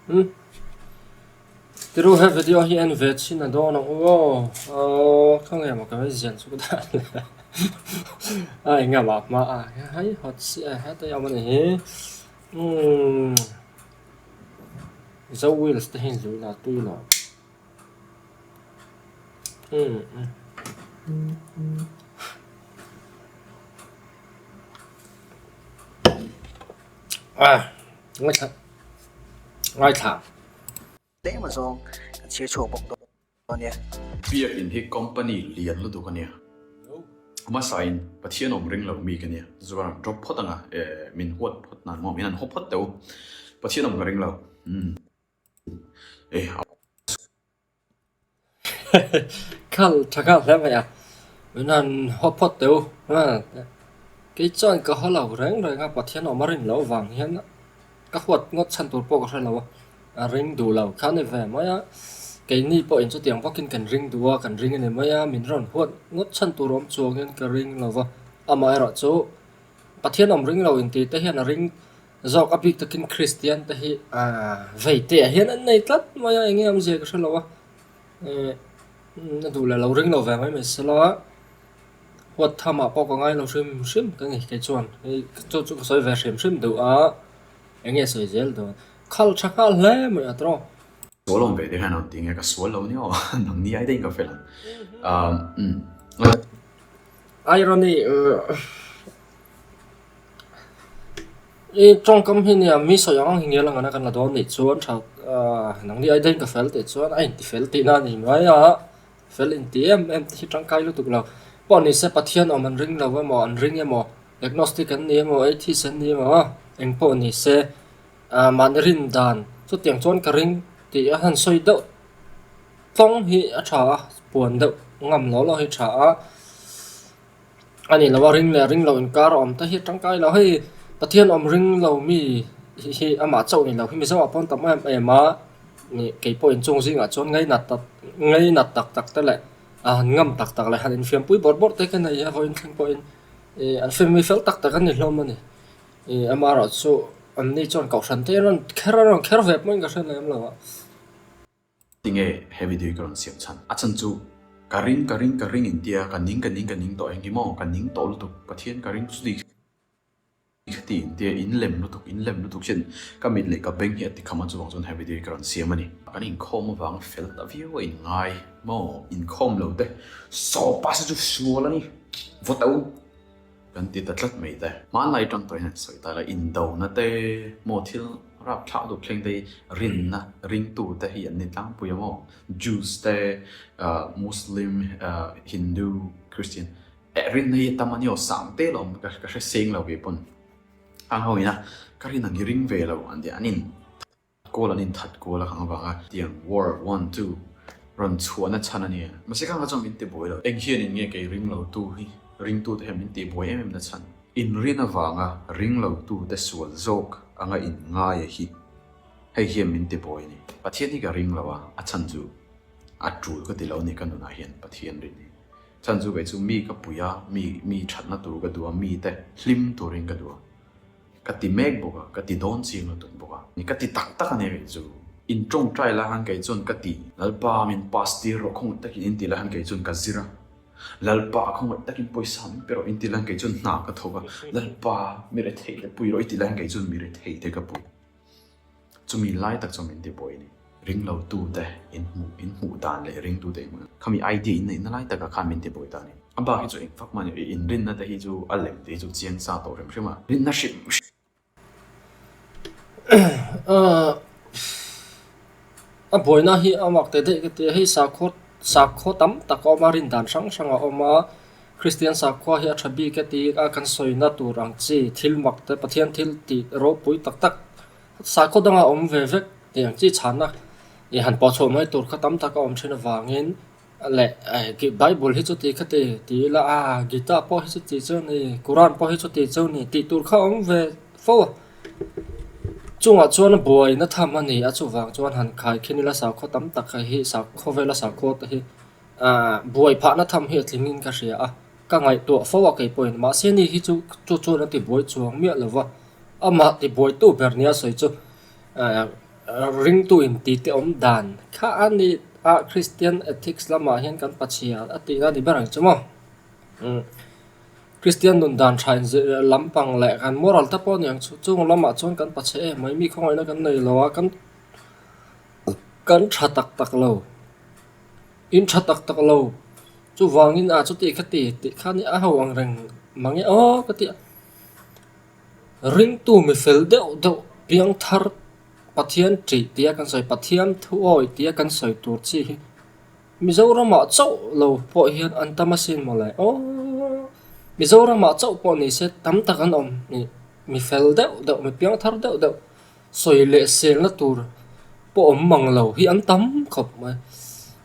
Hmm? Tiru he video hi en ve chin a dawn ang u aw. Aw, kha nge ma ka ve zian chu da. Ai nga ma ma a. Hai hot si a ha ta yam ani hi. Hmm. Zo wheels te hin zui la tui lo. Biakin hi company lian lutuk a nia. Hmasa in Pathian awm ring lo mi ka nia. Zuar an drop phawt ang a, eh, min huat phawt nan maw, min an haw phawt teh u. Pathian awm ka ring lo. Eh, a Khal tha khal hle mai a. Nan ho phawt teu. Ha. Kei chuan ka ho lo reng reng a Pathian awm a rin loh vang hian ka huat ngawt chhan tur pawh ka hre lo a. A ring duh lo kha ni ve mai a. Keini pawhin chutiang vakin kan ring duh a, kan ring a ni mai a. Min rawn huat ngawt chhan tur awm chuangin ka ring lo va. Amaherawhchu Pathian awm ring lo intihte hian a ring Zawk a bik takin Kristian te hi veiteah hian an nei tlat mai a, eng nge awmzia ka hre lo a, na duh leh lo ring lo ve mai mai se la, huat tham ah pawh ka ngai lo hrim hrim ka ni, keichuan chu chu ka sawi ve hrim hrim duh a, eng nge sawi zel duh a, khal tha nghal hle mai a trawng. Sawi lawm ve te hian aw ti nge ka sual lo ni aw, nang ni ai dahin ka fel ang. Irony I tawngkam hi nia mi sawi ang ang hi ngial angana kan la dawn nih chuan tha nangni aia dahin ka fel teh chuan a inti fel tihna a nih mai a fel inti em em te hi tangkai lutuk lo pawh nise Pathian awm an ring lo emaw an ring emaw agnostic an ni emaw atheist an ni emaw engpawh nise. ah mah na rin dan chutiang chuan ka ring tih a han sawi deuh tlawng hi a tha a puan deuh ngam loh loh hi a tha a a ni lo a ring leh ring lo inkar a awm te hi tangkai lo hei pathian awm ring lo mi hi amah chauh ni lo hi mizo ah pawh an tam em em a ni keipawh in chung zingah chuan ngai nat tak ngai nat tak tak te leh a han ngam tak tak leh han infiam pui bawrh bawrh te kha nei hian vawiin thleng pawhin ih an family fel tak tak an ni hlawm a ni. I ama erawh chu anni chuan kohhran te an rawn kher an rawn kher ve pawhin ka hre lem lo a. Tinge heavy duty ka rawn siam chhan? A chhan chu ka ring ka ring ka ring in tia ka ning ka ning ka ning tawh eng emaw ka ning tawh lutuk Pathian ka ring chu ni kha ti in tia in lem lutuk in lem lutuk chin ka mit leh ka beng hi a ti kham a chuvang chuan heavy duty ka rawn siam a ni. Kan inkhawm avang fel ta viau a in ngai maw inkhawm lo te sawpa se chu hrimual a ni vawtau. Kan ti ta tlat mai te. Hmanlai tangtawiin an sawi ta ila, indo na te maw thil rapthlak duh thleng te hi rin na ring tu te hi an ni tlangpui a maw? Jews te Muslim, Hindu, Christian eh rin na hi a tam a ni aw sang te lo ka ka hre seng lo ve pawn. Ang ho ina ka rin ang hi ring ve lo an ti an in. Goal an inthat kual a kang avanga tiang war one two rawn chhuahna chhan a nia. Mahse khanga chuan min ti buai lo. Eng hian in nge kei ring lo tu hi ringtu te hian min ti buai em em na chhan. In rian avanga ring lo tu te sual zawk anga in ngai a hi hei hian min ti buai a ni. Pathian hi ka ring lo a, a chhan chu a tul ka ti lo ni ka nunah hian Pathian rin hi chhan chu kei chu mi ka puia mi mi thatna tur ka duh a mi te hlim turin ka duh a. Ka ti mek bawk a, ka ti dawn chim lutuk bawk a, ka ti tak tak a ni rih chu. In tawngtai la han kei chuan ka ti. Lalpa, min pass tir rawh khawngawt takin in ti la han kei chuan ka zir a. Lalpa, khawngawt takin pawisa min pe rawh in ti la han kei chuan hna ka thawk a. Lalpa, mi rethei te pui rawh i ti la han kei chuan mi rethei te ka pui. Chumi lai tak chuan min ti pawi a ni. Ring lo tu te in hmuh in hmuh dan leh ring tu te in hmuh dan khami idea in neih na lai taka khan min ti pawi ta a ni. A bak hi chu eng fak mah ni. I in rin na te hi chu a lem tih hi chu chiang sa tawh hrim hrim a. Rin na hrim hrim. A buai na hi a mak te daih ka ti a. Hei sakhaw sakhaw tam tak a awm a rin dan hrang hrang a awm a. Kristian sakhua hi a tha bik e ti a kan sawina tur ang chi, thil mak te, Pathian thil ti ropui tak tak sakhaw danga awm ve vek tih ang chi chhana ih han pawh chhuah mai tur kha tam tak a awm thin avangin leh Bible hi chuti kha ti ti ila a, Gita pawh hi chuti chu a ni, Kuran pawh hi chuti chu a ni tih tur kha a awm ve fo a. Chungah chuan a buaina tham a ni a chuvang chuan han khai khin ila sakhaw tam tak hi sakhaw vela sakhaw te hi Buai phahna tham hi a tlingin ka hria a, ka ngaihtuah fo a kei pawhin. Mahse ni hi chu chu chuan a tibuai chuang miah lo va, amah tibuaitu ber nia sawi chu ringtu intite awm dan kha a ni a, Kristian ethics lamah hian kan pachhia a tihna ni ber ang chu maw? Kristian nun dan tha inzirh lampang leh kan moral te pawh a ni ang chu, chung lamah chuan kan pachhe em mai mi khawngaihna kan nei lo a, kan tha tak tak lo. In tha tak tak lo. Chuvangin a chutih ka ti tih khan i aho ang reng mang e aw ka ti a. Ringtu mi fel deuh deuh piangthar Pathian ṭih tia kan sawi, Pathian thu awi tia kan sawi tur chi hi Mizoramah chauh lo pawh hian an tam asin maw le aw. Mizoramah chauh pawh nise tam tak an awm mi fel deuh deuh mi piangthar deuh deuh. sawi leh selna tur pawh awm mang lo hi an tam khawp mai.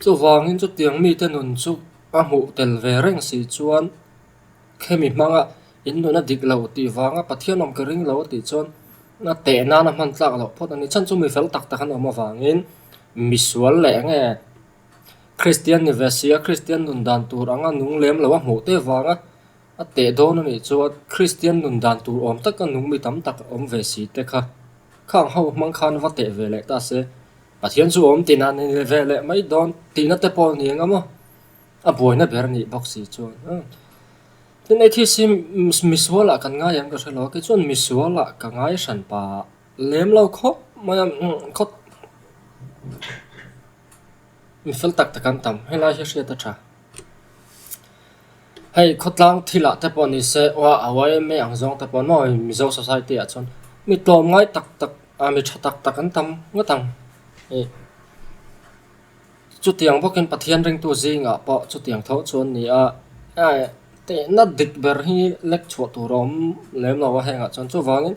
Chuvangin chutiang mite nun chu a hmuh tel ve reng si chuan khemi hmanga in nuna dik lo tih vanga Pathian awm ka ring lo tih chuan a teh nan a hman tlak loh phawt a ni. Chhan chu mi fel tak tak an awm avangin misual leh eng nge kristian ni ve sia kristian nun dan tur anga nung lem loh a hmuh te vanga-- A teh dawn a nih chuan Kristian nun dan tur awm taka nung mi tam tak awm ve si te kha, khang ho hmang khan va teh ve leh ta se. Pathian chu awm tina ni ve leh mai dawn tihna te pawh ni ang a maw? A buaina ber a nih bawk si chuan a. Tin, Hei thil si misualah kan ngai ang ka hre lo a, kei chuan misualah ka ngai hran pa lem lo khawp mai a, khawp mi fel tak tak an tam, helai hi a hriat a tha. Hei khawtlang thilah te pawh ni se, aw a yma ang zawng te pawh nawi Mizo society ah chuan mi tlawm ngai tak tak ah mi tha tak tak an tam ngawt ang i. Chutiang bawkin Pathian ringtu zingah pawh chutiang tho chu an ni a. Hei tihna dik ber hi lek chhuah tur a awm lem lo a hengah chuan chuvangin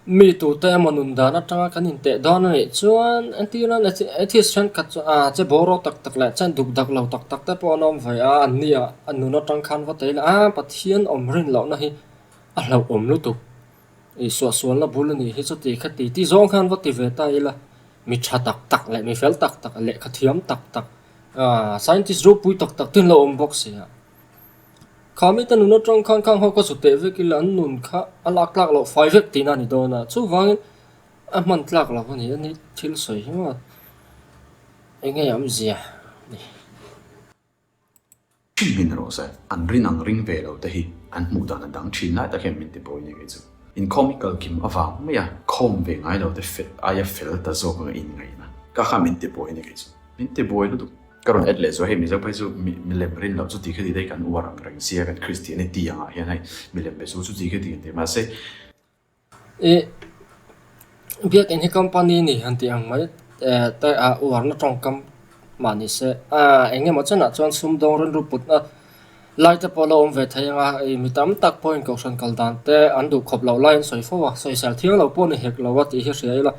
Mi tute emaw nun dan atanga kan inteh dawn a nih chuan entir nana Atheist thenkhat chu a che boruak tak tak leh che duk dak lo tak tak te pawh an awm ve a, an nia a nun atang khan va tei la a, Pathian awm rin lohna hi a hlauhawm lutuk, Isuah sualna bul a nih hi chu tihkha titi zawng khan va ti ve ta ila, mi tha tak tak leh mi fel tak tak, lehkha thiam tak tak, Scientist ropui tak tak te an lo awm bawk sia. Khami te nun a tang khan khang ho ka zu teh vek ila an nun kha a lak tlak loh fai vek tihna a ni dawn a, chuvangin a hman tlak lo a ni a nih thil sawi hi maw eng nge awm zia ni. Ṭhin hmin rawh se, an rin ang ring ve lo te hi an hmuh dan a dang ṭhin lai tak hian min ti pawi nge kei chu. Inkhawm i kal kim avang mai a, khawm ve ngai lo te aia fel ta zawk anga in ngaihna ka kha min ti pawi nge kei chu, min ti buai lutuk. Ka rawn et leh chu hei mizo phei chu mi milem rin loh chuti khe ti daih kan uar ang reng sia kan kristian i ti angah hian hei milem be chu chuti khe ti ang ti mah se. I biak in hi company ni han ti ang mai te a uarna tawngkam mah ni se. Eng emaw chenah chuan sumdawng rilru putna lai te pawh lo awm ve thei anga hei mi tam tak pawhin kohhran kal dan te an duh khawp loh laiin sawi fo a, sawi sel thiang lo pawh a ni hek lo a tih hi a hria ila.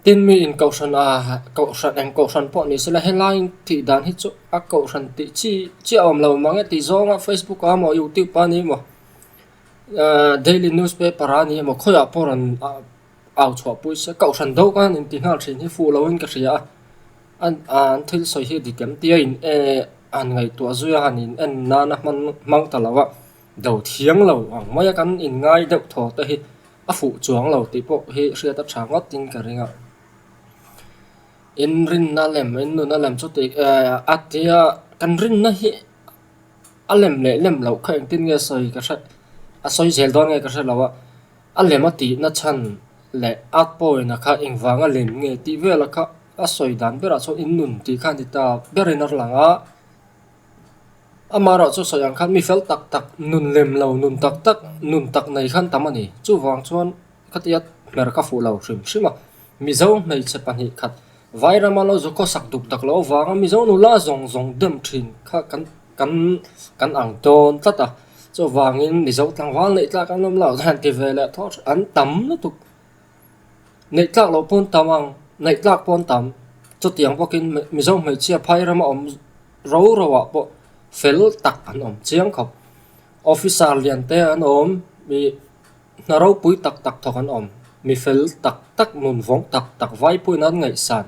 Tin mi in kohhran a, kohhran eng kohhran pawh ni sela helaiin tih dan hi chu a kohhran tih chi chi a awm lo mang e tih zawnga facebook ah a maw youtube ah ni maw daily newspaper ah ni maw khawiah pawh rawn au chhuah pui se kohhran do ka han inti nghal thin hi fuh loin ka hria a an thil sawi hi dikem tia a in han ngaihtuah zui a han in en nan a hmang ta lo a do thiang lo ang mai a kan inngai deuh thaw te hi. a fuh chuang lo tih pawh hi hriat a tha ngawtin ka ring a, in rinna lem in nuna lem chu tih a tia kan rinna hi a lem leh lem loh kha engtin nge sawi ka hre a sawi zel dawn nge ka hre lo a, a lem a tihna chhan leh a pawina kha engvang a lem nge tih vela kha a sawi dan berah chuan in nun tih kha a ni ta berin a lang a. Amah erawh chu sawi ang khan mi fel tak tak, nun lem lo, nun tak tak, nun tak nei khan tam a ni. Chuvang chuan khatia hmer ka fuh lo hrim hrim a. Mizo hmeichhe pahnih khat vai rama lo zu khaw sak duk dak loh avanga Mizo nula zawng zawng dem thin kha kan kan kan ang dawn tlat a. Chuvangin Mizo tlangval neih tlak an awm lo hian ti veleh thawh an tam lutuk. Ngaihtlak lo pawn tam ang, naihtlak pawn tam. Chutiang bawkin Mizo hmeichhia phai rama awm roro ah pawh fel tak an awm chiang kho. Officer lian te an awm, mi hna ropui tak tak thawk an awm, mi fel tak tak, nunvawng tak tak, vaipui in an ngaihsan,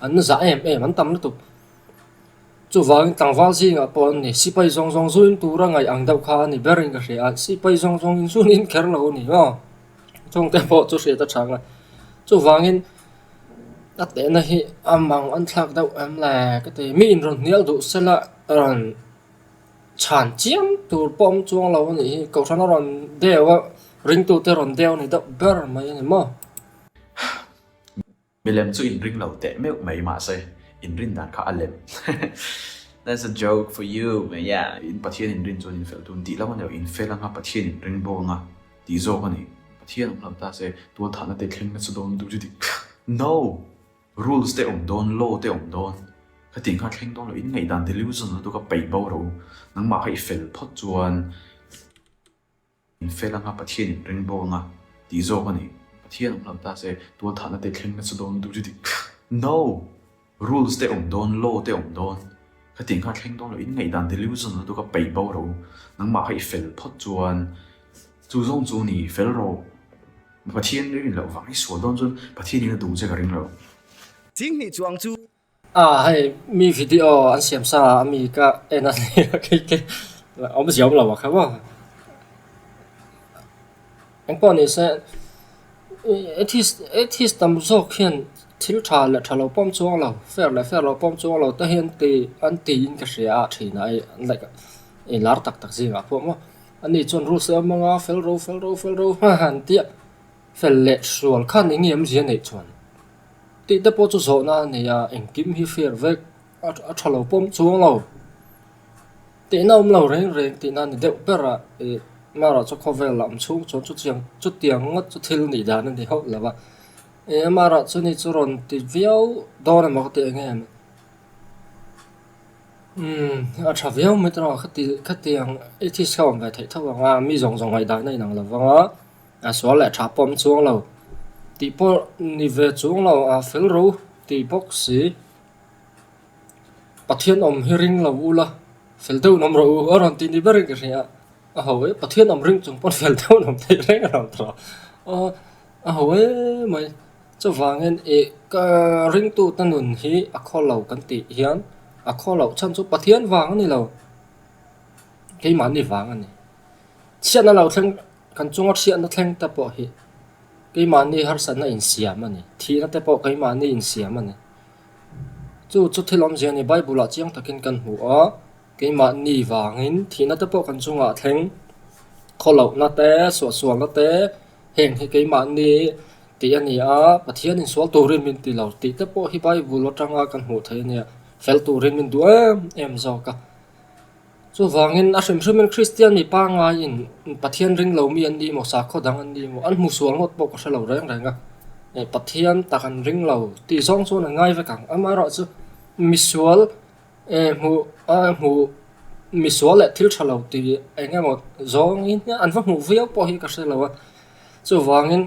an zah em em an tam lutuk. Chuvangin tlangval zingah pawh an ni. Sipai zawng zawng zuin tura ngaih ang deuh kha a ni berin ka hria a, sipai zawng zawngin zun inkher lo a ni maw? Chungte pawh chu hriat a tha ngat. Chuvangin a tehna hi a mang a thlak deuh em le ka ti. Mi in rawn hnial duh sela rawn chhan chiam tur pawh awm chuang lo a nih hi, kohrana rawn deuh a, ringtute rawn deuh a ni deuh ber mai a ni maw? Milem chu inring lo teh meuh mai mahse inrin dan kha a lem That's a joke for you mai a in Pathian inrin chuan infel tun tih lam anilo infel anga Pathian inring bo anga tih zawk ani Pathian awm lo ta se tual thahna te thleng na chu dawn duh chu ti No! Rules te awm dawn law te awm dawn ka tih kha thleng dawn lo in ngaih dan delusional tu ka peih bo ro nangmah kha i fel phawt chuan Min fel anga Pathian in ring bawk anga tih zawk a ni. Pathian awm lo ta se, tual thahna te thleng na chu dawn duh chu ti No! Rules te awm dawn, law te awm dawn. Ka tih nghal thleng dawn lo, in ngaihdan delusion na tu ka peih bo ro. Nangmah kha i fel phawt chuan chu zawng chu ni, fel rawh. Pathian ring loh vang hi sual dawn chuan Pathian in a duh che ka ring lo. Ching hnih chuang chu A hei mi video an siam sa a mi ka en a ni a kei te awm zia awm lo a kha rawh. Engpawh ni se atheist atheist tam zawk hian thil tha leh tha lo pawm chuang lo fair leh fair lo pawm chuang lo te hian ti an tiin ka hria a thin a like i lar tak tak zingah pawh maw a ni chuan rules a awm ang a fel ro fel ro fel ro hma han tia fel leh hrual khan eng nge awmzia neih chuan. Tih te pawh chu zawhna a nei a, engkim hi fear vek a tha lo pawm chuang lo. Tihna awm lo reng reng tihna a ni deuh ber a, ih Marah chu khawvel a awm chhung chuan chutiang ngawt chu thil nih dan a ni hauh lo a. Ih Marah chu ni chu rawn ti viau dawn emaw ka tih eng em? Umm a tha viau mai tawh ang a, khati khati ang, atheist kha awm ve theih tho ang a, mi zawng zawng ngaih dan a inang lo vang a. A sual leh tha pawh awm chuang lo tih pawh ni ve chung lo a fel ro tih bawk si. Pathian awm hi ring lo u la fel deuh nawm ro u a rawn tih ni ber in ka hria a ho e pathian awm ring chung pawn fel deuh nawm theih reng a rawn tawh a a ho e mai chuvang in e ka ring tute nun hi a khaw lo kan tih hian a khaw loh chhan chu pathian vang a ni lo keimah ni vang a ni chhiatna lo thleng-- Kan chunga hriatna thlengte pawh hi keimahni harsatna insiam a ni. Thihnate pawh keimahni insiam a ni. Chu chu thil awmzia ni. Bible-ah chiang takin kan hmu a, keimahni vangin thihnate pawh kan chungah thleng, khaw lohna te, suahsualna te, heng hi keimahni tih a ni a, Pathianin sual turin min ti lo tih te pawh hi Bible atanga kan hmuh theih a nia, fel turin min duh em em zawk a. Chuvangin, a hrim hrimin Kristian mi pangaiin Pathian ring lomi an ni maw, sakhaw dang an ni maw, an hmusual ngawt pawh ka hre lo reng reng a. Hei, Pathian tak an ring lo tih zawng chuan an ngai vek ang. Amaherawh chu, misual hmuh, misual leh thil tha lo tih eng emaw zawngin hian an va hmuh viau pawh hi ka hre lo a. Chuvangin,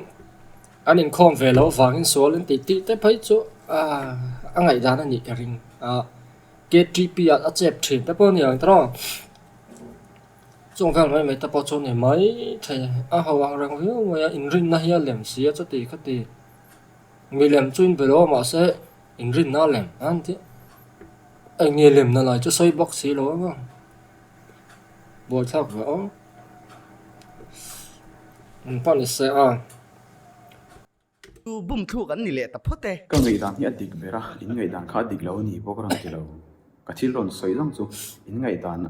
an inkhawm ve lo vangin sual intih tih te phei chu a ngaihdan a nih ka ring. KTP ah a chep thin te pawh a ni ang tawh a, chung vel mai mai te pawh chu a ni maithei a, ho ang reng viau mai a, inrinna hi a lem si a chuti khuti milem chu inbe lo a mahse inrinna a lem a ni theih a, eng nge lemna lai chu sawi bawk si lo ang a, buaithlak ve awm eng pawh ni se a. Chu bum thluk an ni leh ta phawt e. Ka ngaihdang hi a dik ber a, in ngaihdang kha a dik lo a ni bawk a rawn ti lo. Ka thil rawn sawi lang chu in ngaihdan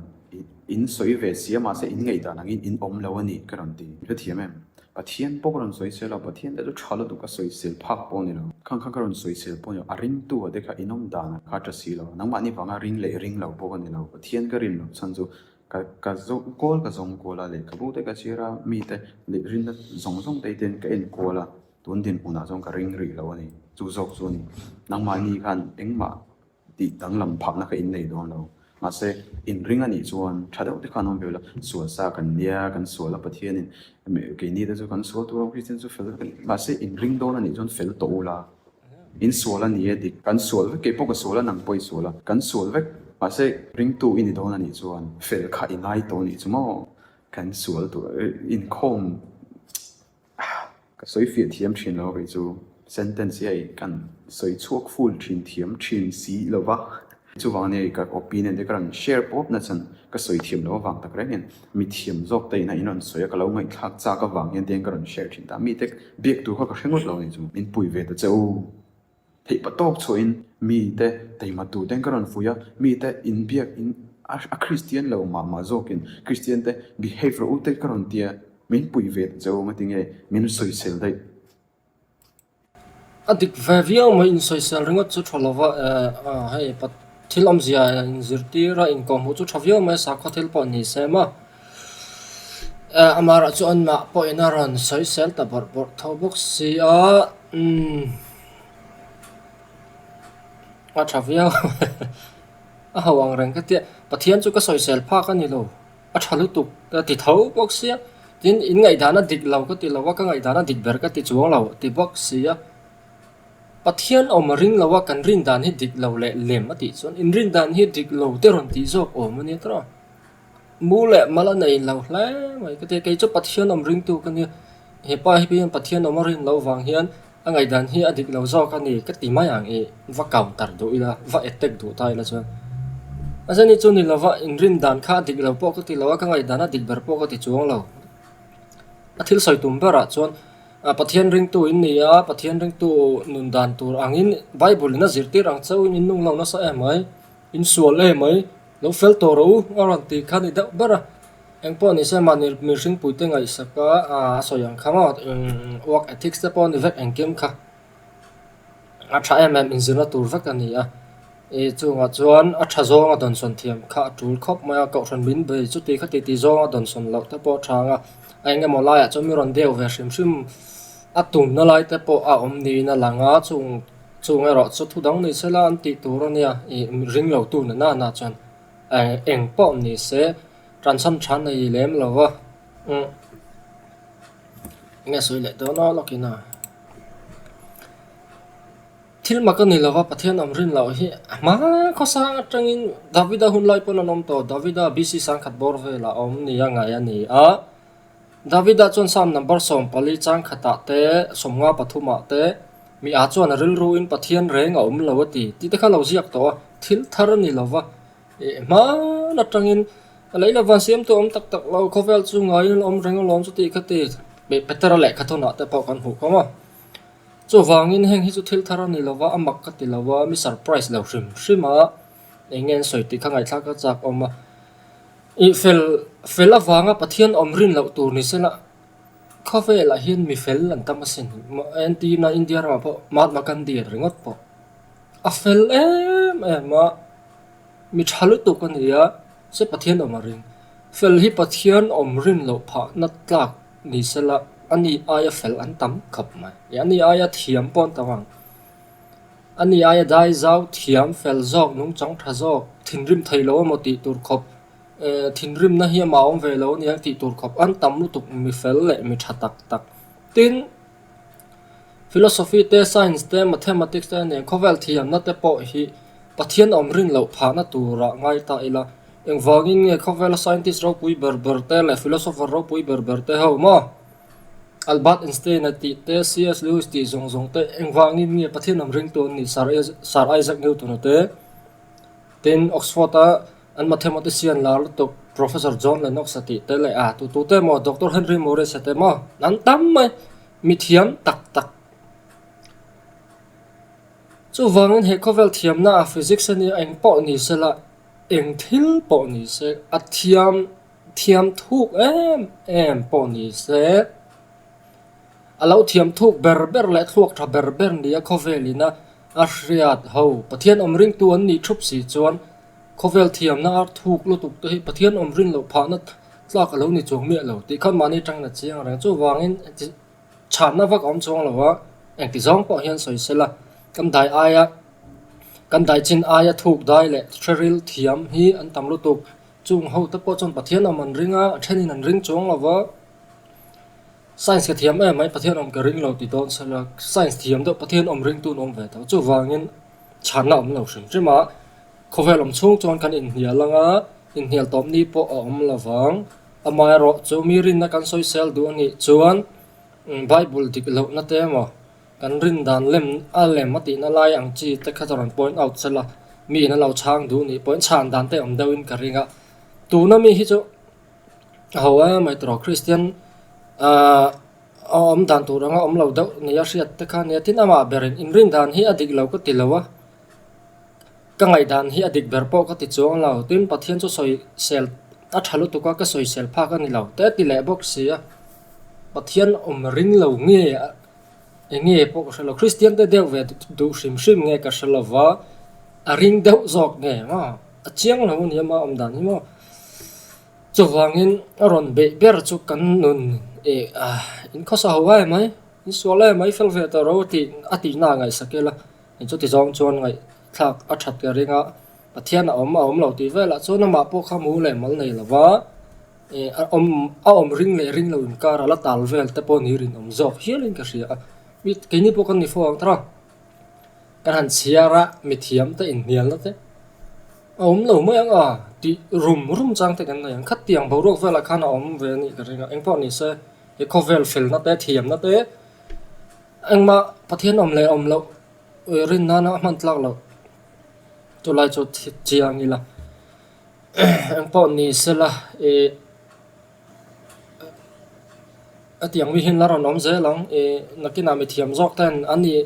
in sawi ve sia mahse in ngaihdan angin in awm lo a ni ka rawn ti. Ka thiam em? Pathian pawh ka rawn sawi sia lo, Pathian te chu tha lutuk ka sawi sel phak pawh a ni lo. Khang khan ka rawn sawi sel pawh a ni lo, a ring tu a te kha in awm dan ah kha a ta si lo, nangmahni vanga ring leh ring lo pawh a ni lo, Pathian ka rin loh chhan chu Ka ka zawng kawl ka zawng kual a, lehkhabu te ka chhir a, mite leh rinna zawng zawng te hian ka enkual a, tun dinhmunah chuan ka ring rih lo a ni. Chu zawk chu a ni. Nangmah ni khan engmah tih danglam phahna kha in nei dawn lo. Mahse, in ring a nih chuan tha deuh te kha an awm ve ula, sual sa kan nia, kan sual a Pathianin keini te chu kan sual tur ang Christian chu fel mahse in ring dawn a nih chuan fel tawh ula, In sual a ni e dik. Kan sual vek, kei pawh ka sual a nang pawh i sual a, kan sual vek. Mahse, ringtu i ni dawn a nih chuan fel kha i ngai tawh a nih chu maw? Kan sual tur inkhawm ka sawi fiah thiam thin lo, kei chu sentence hi a inkhan sawi chhuak ful thin thiam thin si lova. Chuvang ania i ka opinion te ka rawn share pawp na chuan ka sawi thiam lo avang tak reng hian mithiam zawk te in a in rawn sawi a ka lo ngaihthlak chak avang hian tiang ka rawn share thin ta mite biak tur kha ka hre ngawt lo ni chu min pui ve ta che u theih pa tawk chhuah in mite taima tur ten ka rawn fuih a mite in biak in a Christian lo mah mah zawk in Christian te behave rawh u te ka rawn tia min pui ve ta che u ngatinge min sawi sel daih. A dik ve viau mai insawisel ringawt chu tha lova hei thil awmzia in zirtir a inkawhhmuh chu tha viau mai a sakhaw thil pawh a ni se maw amar ah chu anmah pawh in a rawn sawisel ta bawrh bawrh tho bawk si a a tha viau a ho angreng ka tia Pathian chu ka sawisel phak a ni lo. a tha lutuk ka ti tho bawk sia, tin in ngaihdan a dik lo ka ti lo a, ka ngaihdan a dik ber ka ti chuang lo ti bawk sia. Pathian awm a ring lo a kan rin dan hi dik lo leh lem a tih chuan in rin dan hi dik lo te rawn tih zawk awm a nia tara, mu leh mal a nei lo hle mai ka ti a, kei chu Pathian awm ringtu ka nia, hepa hian Pathian awm a rin loh vang hian, A ngaihdan hi a dik lo zawk a ni ka ti mai ang i va counter duh ila, va attack duh ta ila chuan a zani chu ni lova in rin dan kha a dik lo pawh ka ti lo a, ka ngaihdan a dik ber pawh ka ti chuang lo. A thil sawi tum berah chuan Pathian ringtu in nia, Pathian ringtu nun dan tur angin Bible in a zirtir ang chauhin in nung lo nasa em mai. In sual e mai, lo fel tawh ro a rawn tih khan i deuh ber a, eng pawh ni se mahni mirhing puite ngaihsaka a sawi ang kha maw, work ethics te pawh a ni vek engkim kha, a tha em em inzirna tur vek a ni a, i chungah chuan a tha zawnga dawnsawn thiam kha a tul khawp mai a, kohhran min bei chuti kha titi zawnga dawnsawn loh te pawh a tha ang a, a eng emaw laiah chuan min rawn deuh ve hrim hrim a tumna lai te pawh a awm niin a lang a, chung-- Chhung erawh chu thu dang ni se la an tih tur a nia, i ring lo tu na nanah chuan eng pawh ni se tansan than a i lem lo va, umm enge sawi leh dawn aw lawkin a. Thil mak a ni lo va, Pathian awmrin loh hi a hma khawsang atangin Davida hun lai pawn an awm tawh, Davida BC. Sangkhat bawr velah a awm ni a ngai a ni a, Davida chuan Salm number sawm pali chang khatah te sawm nga pathumah te, Mi ah chuan a rilru in Pathian reng a awm lo a ti tite kha lo ziak tawh a, thil thar a ni lova, hman atangin lei lova an siam tu awm tak tak lo, khawvel chu ngaiin a awm reng alawm chuti kha ti beh Petera lehkha thawnah te pawh kan hmuh kawng a, chuvangin heng hi chu thil thar a ni lova, a mak ka ti lova, mi surprise lo hrim hrim a, enge an sawi tih kha ngaihthla ka chak awm a. Ih fel, fel avanga Pathian awm rin loh tur ni sela, khawvelah hian mi fel an tam a si hnuh mah a en tiin a India ramah pawh Mahatma Gandhi an ringawt pawh a fel em em a, mi tha lutuk a nia se Pathian awm a rin. Fel hi Pathian awm rin loh phahna tlak ni sela ani aia fel an tam khawp mai, ih ani aia thiam pawh an tam ang. A ni aia dai zau thiam fel zawk, nungchang tha zawk, thinrim thei lo emaw tih tur khawp, eh, thinrimna hi amah a awm ve lo aniang tih tur khawp an tam lutuk mi fel leh mi tha tak tak. Tin, Philosophy te, Science te, Mathematics te a nen khawvel thiamna te pawh hi Pathian awmrin loh phahna tura ngai ta ila, engvangin nge khawvela Scientist ropui ber ber te leh Philosopher ropui ber ber te ho maw? Albert Einstein a tih te, CS Lewis tih zawng zawng te, engvangin nge Pathian lam ring tu an ni? Sir Isaac Newton a te, tin Oxford a an mathematics sian lar lutuk Professor John Lennox a tih te leh a tu tu te maw Doctor Henry Morris a te maw an tam mai, mithiam tak tak. Chuvangin he khawvel thiamna a physics a nia engpawh ni sela, engthil pawh ni se a thiam. Thiam thuk em em pawh ni se. A lo thiam thuk ber ber leh thluak tha ber ber nia khawvel ina a hriat ho. Pathian awm ring tu an nih thup si chuan khawvel thiamna ar thuk lutuk te hi Pathian awm rin loh phahna tlak a lo ni chuang miah lo tih khan mahni tangin a chiang reng. Chuvangin engti chhanna vak a awm chuang lo a, engti zawng pawh hian sawi sela kan dai aia kan daichin aia thuk dai leh hreril thiam hi an tam lutuk Chung hote pawh chuan Pathian awm an ring a, a thenin an ring chuang lo va. Science ka thiam em mai Pathian awm ka ring lo ti dawn se la, science thiam deuh Pathian awm ring tun awm ve ta. Chuvangin chhanna awm lo hrim hrim a, khawvel awm chhung chuan kan inhnial ang a, inhnial tawp ni pawh a awm lo vang. Amah erawh chu mi rinna kan sawisel duh anih chuan Bible dik lohna te emaw, Kan rindan lem a lem a tihna lai ang chi te kha ka rawn point out sela, mi in a lo chhang duh nih point chhan dan te awm deuh in ka ring a. Tuna mi hi chu a ho a mai tur a Kristian a awm dan tur anga awm lo deuh nih a hriat te kha a nia. Tin amah ber in, in rindan hi a dik lo ka ti lo a, ka ngaihdan hi a dik ber pawh ka ti chuang a lo. Tin Pathian chu sawi sel a tha lutuk a, ka sawi sel phak a ni lo teh a ti leh bawk si a, Pathian awm ring lo nge Eng nge pawh ka hre lo, Kristiante deuh ve duh hrim hrim nge ka hre lova, a ring deuh zawk nge eng a, a chiang lo a ni a mah awmdan hi maw? Chuvangin a rawn beih ber chu kan nun in khawsa ho ai mai, in sual ai mai fel ve tawh ro tih a tihnaah a ngaihsak ila, in chutizawng chuan ngaihthlak a that ka ring a, Pathian a awm a awm lo tih velah chuan amah pawh kha mu leh mal nei lova, E, a awm, a awm ring leh ring lo inkar a la tal vel te pawh ni rinawm zawk hial in ka hria a. Mi, keini pawh kan ni fo ang ta ra. Kan han chhiar a, mithiam te inhnial na te a awm lo mai ang a tih rum rum chang te kan nei ang. Khat tiang boruak vel ah khan a awm ve a nih ka ring a, engpawh ni se he khawvel fel na te, thiam na te engmah Pathian awm leh awm loh rin nana a hman tlak loh chu lai chu thiang ila. engpawh ni se la ih hetiang mi hian la rawn awm zel ang ih nakin ah mithiam zawk ten an nih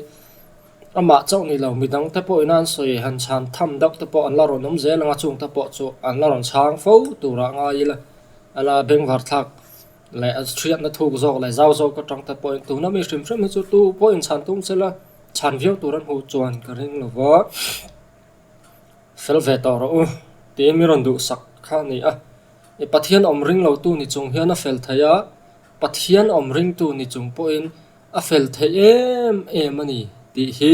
amah chauh ni lo midang te pawh ina an sawi han chhan tham deuh te pawh an la rawn awm zel ang a chung te pawh chu an la rawn chhang fo tur ah ngai ila a la bengvar thlak leh a hriatna thuk zawk leh zau zawk atang te pawhin tuna mi hrim hrim hi chu tu pawh in chhan tum se la chhan viau tur an hmuh chuan ka ring lo va. fel ve tawh rawh u tiin min rawn duhsak kha a ni a. I Pathian awm ring lo tu ni chung hian a fel thei a, Pathian awm ring tu ni chung pawhin a fel thei em em a ni tih hi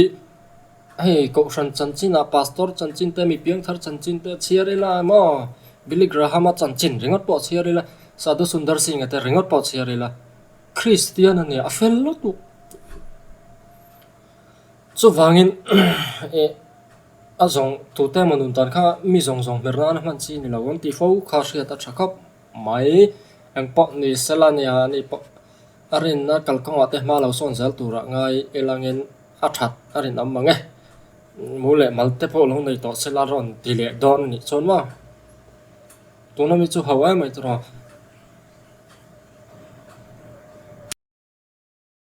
hei Kohhran chanchin-a, Pastor chanchin te, mi piangthar chanchin te a chhiar ila maw? Billy Graham-a chanchin ringawt pawh a chhiar ila, Sadhu Sundar Singh-a te ringawt pawh a chhiar ila, Kristian ania a fel lutuk. Chuvangin eh a zawng tute emaw nun tan kha mi zawng zawng hmer nan a hman chi ni lo an tih fo kha hriat a tha khawp mai. Eng pawh ni sel a nia ni pawh a rin a kal kawngah te hma lo sawn zel turah ngai el angin a that a rin awm ang e. Mu leh mal te pawh lo nei tawh se la rawn ti leh dawn anih chuan maw? Tuna mi chu hauh emai tawh a.